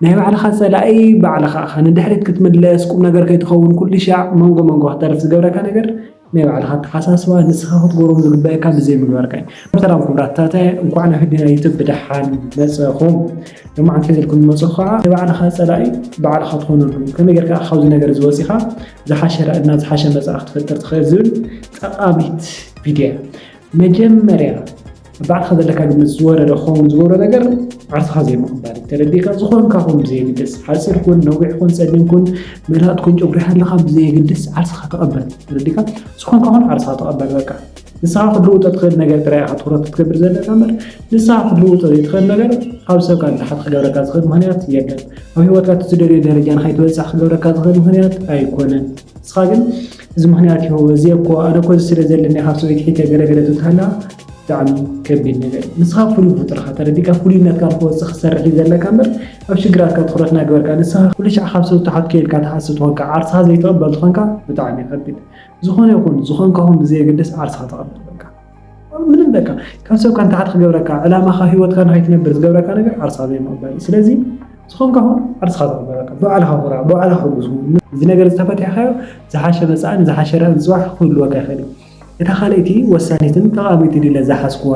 ናይ ባዕልኻ ጸላኢ ባዕልኻ ኢኻ። ንድሕሪት ክትምለስ፣ ቁም ነገር ከይትኸውን ኩሉ ሻዕ መንጎ መንጎ ክትተርፍ ዝገብረካ ነገር ናይ ባዕልኻ ኣተሓሳስባ ንስኻ ክትገብሮም ዝግበኣካ ብዘይምግባርካ እዩ። ሰላም ክቡራት ታታያ እንኳዕ ናብ ህድና ዩቱብ ብደሓን መጸኹም። ሎማዓንቲ ሒዘልኩም ዝመጸኹ ከዓ ናይ ባዕልኻ ጸላኢ ባዕልኻ ትኾነሉ ከመይ ጌርካ ኢኻ ካብዚ ነገር እዚ ወጺኻ ዝሓሸ ራእና ዝሓሸ መጻኢ ክትፈጥር ትኽእል ዝብል ጠቃሚት ቪድዮ እያ። መጀመርያ ንባዕልኻ ዘለካ ግምት ዝወረደ ክኸውን ዝገብሮ ነገር ዓርስኻ ዘይምቕባል እዩ። ተረዲእካ ዝኾንካ ኩን ብዘየግድስ፣ ሓጺር ኩን፣ ነዊሕ ኩን፣ ጸሊም ኩን፣ መላጥ ኩን፣ ጨጉሪ ሃለኻ ብዘየግድስ ዓርስኻ ተቐበል። ተረዲእካ ዝኾንካ ኩን ዓርስኻ ተቐበል በቃ። ንስኻ ክትልውጦ ትኽእል ነገር ጥራይ ኢኻ ትኹረት ክትገብር ዘለካ እምበር ንስኻ ክትልውጦ ዘይትኽእል ነገር ካብ ሰብ ካብ ንታሕቲ ክገብረካ ዝኽእል ምክንያት የለን። ኣብ ሂወትካ እቲ ትደልዮ ደረጃ ንኸይትበጽሕ ክገብረካ ዝኽእል ምክንያት ኣይኮነን። ንስኻ ግን እዚ ምክንያት እዩ እዚ እኮ ኣነ እኮ እዚ ስለ ዘለኒ ካብ ሰበይቲ ሒተ ገለ ገለ ትብልሃላ ብጣዕሚ ከቢድ ነገር እዩ ንስኻ ፍሉይ ፍጡር ኢኻ ተረዲእካ ፍሉይነትካ ንክወጽእ ክትሰርሕ እዩ ዘለካ እምበር ኣብ ሽግራትካ ትኹረት ናገበርካ ንስኻ ኩሉ ሻዕ ካብ ሰብ ትሓቱ ከይልካ ትሓስብ ተኾንካ ዓርስኻ ዘይትቕበል ተኾንካ ብጣዕሚ ከቢድ ዝኾነ ይኹን ዝኾንካኹም ብዘየገድስ ዓርስኻ ተቐበል በቃ ምንም በቃ ካብ ሰብ ካን ታሕት ክገብረካ ዕላማኻ ህይወትካ ንኸይትነብር ዝገብረካ ነገር ዓርስኻ ዘይምቕባል ስለዚ ዝኾንካ ኹን ዓርስኻ ተቕበለካ ብባዕልኻ ኩራ ብባዕልኻ ሕጉስ እዚ ነገር ዝተፈቲሕካዮ ዝሓሸ መጻእን ዝሓሸ ራእን ጽባሕ ክህልወካ ይኽእል እዩ እታ ካልኣይቲ ወሳኒትን ጠቓሚት ድለ ዝሓስኩዋ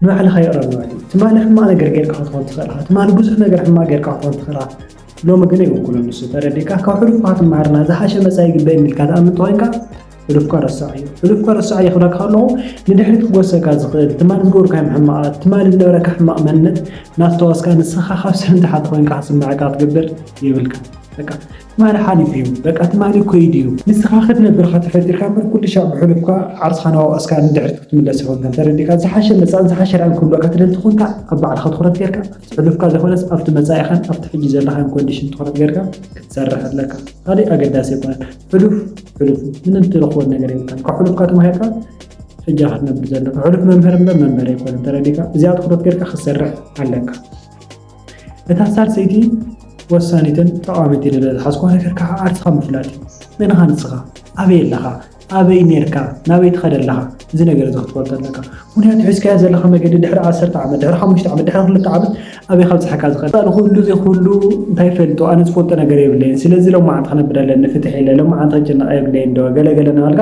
ንባዕልኻ ይቕረ ምባል እዩ ትማሊ ሕማቕ ነገር ጌርካ ክትኾን ትኽእል ኢኻ ትማሊ ብዙሕ ነገር ሕማቕ ጌርካ ክትኾን ትኽእል ኢኻ ሎሚ ግን ኣይውክሎን ንሱ ተረዲእካ ካብ ሕሉፍካ ትምሃርና ዝሓሸ መጻኢ ይግበ የሚልካ ተኣምን ተኾይንካ ሕሉፍካ ረሳዓዮ ሕሉፍካ ረሳዓዮ ክብላካ ከለኹ ንድሕሪት ክጎሰካ ዝኽእል ትማሊ ዝገበርካዮም ሕማቓት ትማሊ ዝነበረካ ሕማቕ መንነት ናስተዋስካ ንስኻ ካብ ሰብ ንታሕቲ ኮይንካ ክስምዓካ ክትገብር የብልካ በቃ ትማሊ ሓሊፉ እዩ በቃ ትማሊ ኮይዱ እዩ ንስኻ ክትነብር ኢኻ ተፈጢርካ እምበር ኩሉ ሻዕ ብሕሉፍካ ዓርስኻ ናዋእስካ ንድሕሪት ክትምለስ ይኾንካ እንተደሊካ ዝሓሸ መጻእን ዝሓሸ ራእን ክህልወካ ትደሊ ተኾንካ ኣብ ባዕልኻ ትኹረት ጌርካ ኣብቲ ሕሉፍካ ዘይኮነስ ኣብቲ መጻኢኻን ኣብቲ ሕጂ ዘለኻን ኮንዲሽን ትኹረት ጌርካ ክትሰርሕ ኣለካ ካሊእ ኣገዳሲ ኣይኮነን ሕሉፍ ሕሉፍ ምንም ትረኽቦ ነገር የብልካን ካብ ሕሉፍካ ተማሂርካ ሕጃ ክትነብር ዘለካ ሕሉፍ መምህር እምበር መንበሪ ኣይኮነን ተረዲእካ እዚኣ ትኩረት ጌርካ ክትሰርሕ ኣለካ እታ ሳልሰይቲ ወሳኒትን ጠቓሚት ኢለ ዝሓዝኩዋ ነገር ከዓ ዓርስኻ ምፍላጥ እዩ መንኻ ንስኻ ኣበይ ኣለኻ ኣበይ ነርካ ናበይ ትኸደ ኣለኻ እዚ ነገር እዚ ክትፈልጦ ኣለካ ምክንያቱ ሒዝካዮ ዘለካ መገዲ ድሕሪ ዓሰርተ ዓመት ድሕሪ ሓሙሽተ ዓመት ድሕሪ ክልተ ዓመት ኣበይ ከብጽሐካ እዚ ቀጻሊ ኩሉ እዚ ኩሉ እንታይ ይፈልጦ ኣነ ዝፈልጦ ነገር የብለይን ስለዚ ሎማዓንቲ ክነብር ኣለኒ ፍትሕ ኢለ ሎማዓንቲ ክጭነቅ የብለይን ዶ ገለ ገለ ናበልካ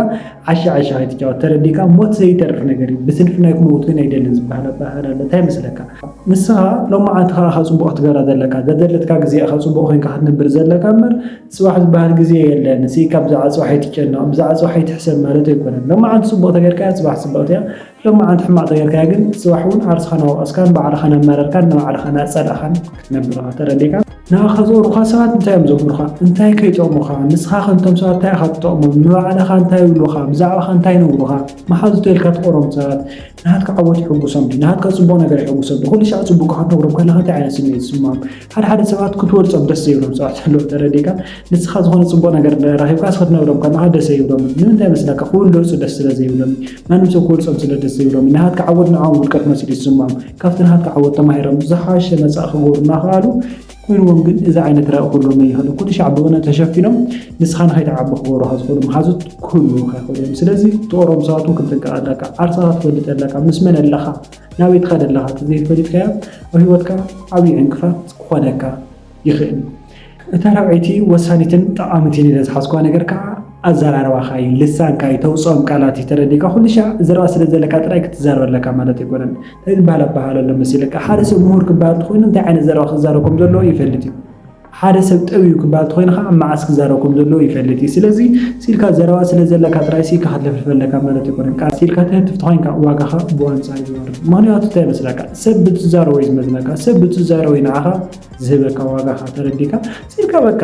ዓሻ ዓሻ ከይትጫወት ተረዲእካ ሞት ዘይተርፍ ነገር እዩ ብስንፍናይ ክመውት ግን ኣይደልን ዝብሃል ኣበሃህላ ኣሎ እንታይ ይመስለካ ንስኻ ሎማዓንቲ ከኣ እኻ ጽቡቅ ክትገብራ ዘለካ ዘዘለትካ ግዜ ኢኻ ጽቡቅ ኮንካ ክትነብር ዘለካ እምበር ጽባሕ ዝብሃል ግዜ የለን ስኢካ ብዛዕባ ጽባሕ ኣይትጨነቅ ብዛዕባ ጽባሕ ኣይትሕሰብ ማለት ኣይኮነን ሎማዓንቲ ጽቡቅ ተገርካያ ጽባሕ ጽብቅቲ እያ ሎም መዓንቲ ሕማቕ ተገርካያ ግን ጽባሕ ውን ዓርስኻ ናወቐስካን ባዕልኻ ናማረርካን ንባዕልኻ ናጸላእኻን ክትነብር ኢኻ ተረዲእካ። ንኣኻ ዝቐርቡኻ ሰባት እንታይ እዮም ዘምህሩኻ? እንታይ ከ ይጠቕሙኻ? ንስኻኸ ንቶም ሰባት እንታይ ኢኻ ትጠቕሞም? ንባዕልኻ እንታይ ይብሉኻ? ብዛዕባኻ እንታይ ይነግሩኻ? መሓዙተይ ኢልካ ትቐርቦም ሰባት ናትካ ዓወት የሐጉሶም ድዩ? ናትካ ጽቡቕ ነገር የሐጉሶም ድዩ? ኩሉ ሻዕ ጽቡቕካ ክትነግሮም ከለኻ እንታይ ዓይነት ስምዒት ይስምዖም? ሓደ ሓደ ሰባት ክትወልጾም ደስ ዘይብሎም ሰባት ኣለዉ ተረዲእካ ንስኻ ዝኾነ ጽቡቕ ነገር ረኺብካ ስክትነግሮም ከለኻ ደስ ኣይብሎምን ንምንታይ መስለካ ክውለጹ ደስ ስለ ዘይብሎም ማንም ሰብ ክወልጾም ስለ ደስ ዘይብሎም ናሃትካ ዓወት ንዓኦም ውድቀት መሲሉ ይስምዖም ካብቲ ናሃትካ ዓወት ተማሂሮም ዝሓሸ መጻኢ ክገብሩ እናኸኣሉ ኮይንዎም ግን እዚ ዓይነት ራኢ ክህልዎም ኣይኽእልን ኩሉ ሻዕ ብወነ ተሸፊኖም ንስኻ ንኸይትዓቢ ክገብሩኻ ዝኽእሉ መሓዙት ክህልዉኻ ይኽእሉ እዮም ስለዚ ትቕርቦም ሰባት እውን ክንጥንቀቕ ኣለካ ዓርሰኻ ትፈልጥ ኣለካ ምስ መን ኣለኻ ናበይ ትኸድ ኣለኻ ተዘይፈሊጥካዮ ኣብ ህይወትካ ዓብዩ ዕንቅፋት ክኾነካ ይኽእል። እታ ራብዐይቲ ወሳኒትን ጠቓሚትን ኢለ ዝሓዝኩዋ ነገር ከኣ ኣዘራርባኻ እዩ፣ ልሳንካ እዩ፣ ተውጽኦም ቃላት እዩ፣ ተረዲእካ ኩልሻዕ ዘረባ ስለ ዘለካ ጥራይ ክትዛረብ ኣለካ ማለት ኣይኮነን። እንታይ ዝበሃል ኣበሃህላ ኣሎ መሲለካ፣ ሓደ ሰብ ምሁር ክበሃል ተኾይኑ እንታይ ዓይነት ዘረባ ክዛረብ ከም ዘለዎ ይፈልጥ እዩ። ሓደ ሰብ ጠብ እዩ ክበሃል ተኾይኑ ከኣ መዓስ ክዛረብ ከም ዘለዎ ይፈልጥ እዩ ስለዚ ሲኢልካ ዘረባ ስለ ዘለካ ጥራይ ሲኢካ ክትልፍልፍ ኣለካ ማለት ኣይኮነን ከኣ ሲኢልካ ትህትፍ ተኾይንካ ዋጋኻ ብኣንጻሩ ይወርድ ምኽንያቱ እንታይ መስለካ ሰብ ብትዛረቦ እዩ ዝመዝነካ ሰብ ብትዛረቦ እዩ ንዓኻ ዝህበካ ዋጋኻ ተረዲካ ሲኢልካ በቃ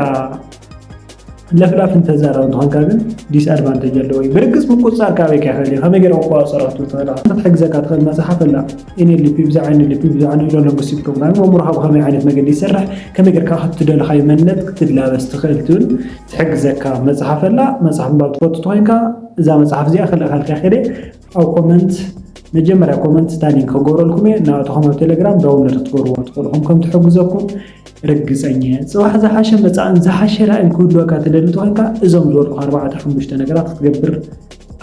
ለፍላፍ እንተዛረብ እንተኾንካ ግን ዲስ ኣድቫንተጅ ኣለዎ እዩ ብርግፅ ምቁፅፃር ካበይ ከይክእል እዩ ከመይ ገይረ ክቆፃፀሮ ክትብል ትኽእል ኢኻ ክትሕግዘካ ትኽእል መፅሓፍ ኣላ ኤንኤልፒ ብዛዕ ኤንኤልፒ ብዛዕ ኒውሮ ሎንግስቲክ ፕሮግራም ኣእምሮኻ ብኸመይ ዓይነት መገዲ ይሰርሕ ከመይ ገርካ ክትደለኻዩ መንነት ክትላበስ ትኽእል ትብል ትሕግዘካ መፅሓፍ ኣላ መፅሓፍ ምባብ ትፈቱ ተኮይንካ እዛ መፅሓፍ እዚኣ ክልእኸልካ ይኽእል እየ ኣብ ኮመንት መጀመርያ ኮመንት እታ ሊንክ ክገብረልኩም እየ እናኣተኹም ኣብ ቴሌግራም ዳውንሎድ ክትገብርዎ ትኽእሉ ኹም ከም ትሕግዘኩም ርግፀኛ እየ ፅባሕ ዝሓሸ መፃእን ዝሓሸ ራእን ክህልወካ ትደሊ ተኾይንካ እዞም ዝበልኩ ኣርባዕተ ሓሙሽተ ነገራት ክትገብር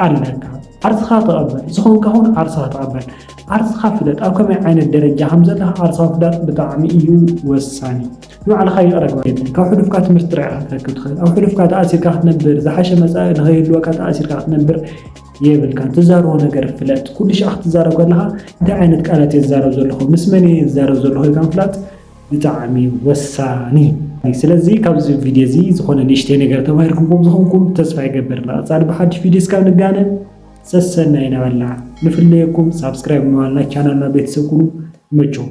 ኣለካ ዓርስኻ ተቐበል ዝኾንካ ኹን ዓርስኻ ተቐበል ዓርስኻ ፍለጥ ኣብ ከመይ ዓይነት ደረጃ ከም ዘለኻ ዓርስኻ ፍላጥ ብጣዕሚ እዩ ወሳኒ ንባዕልኻ ይቕረ ግበር የለን ካብ ሕሉፍካ ትምህርቲ ጥራይ ክትረክብ ትኽእል ኣብ ሕሉፍካ ተኣሲርካ ክትነብር ዝሓሸ መፃኢ ንኸይህልወካ ተኣሲርካ ክትነብር የብልካን ትዛረቦ ነገር ፍለጥ ኩሉ ሻዕ ክትዛረብ ከለኻ እንታይ ዓይነት ቃላት እየ ዝዛረብ ዘለኹ ምስ መን እየ ዝዛረብ ዘለኹ ኢልካ ምፍላጥ ብጣዕሚ ወሳኒ እዩ ስለዚ ካብዚ ቪድዮ እዚ ዝኾነ ንእሽተይ ነገር ተማሂርኩም ከም ዝኾንኩም ተስፋ ይገብር ንቐፃሊ ብሓድሽ ቪድዮ እስካብ ንጋነ ሰሰናይ ነበልና ንፍለየኩም ሳብስክራይብ ምባልና ቻናልና ቤተሰብ ኩኑ ይመችኹም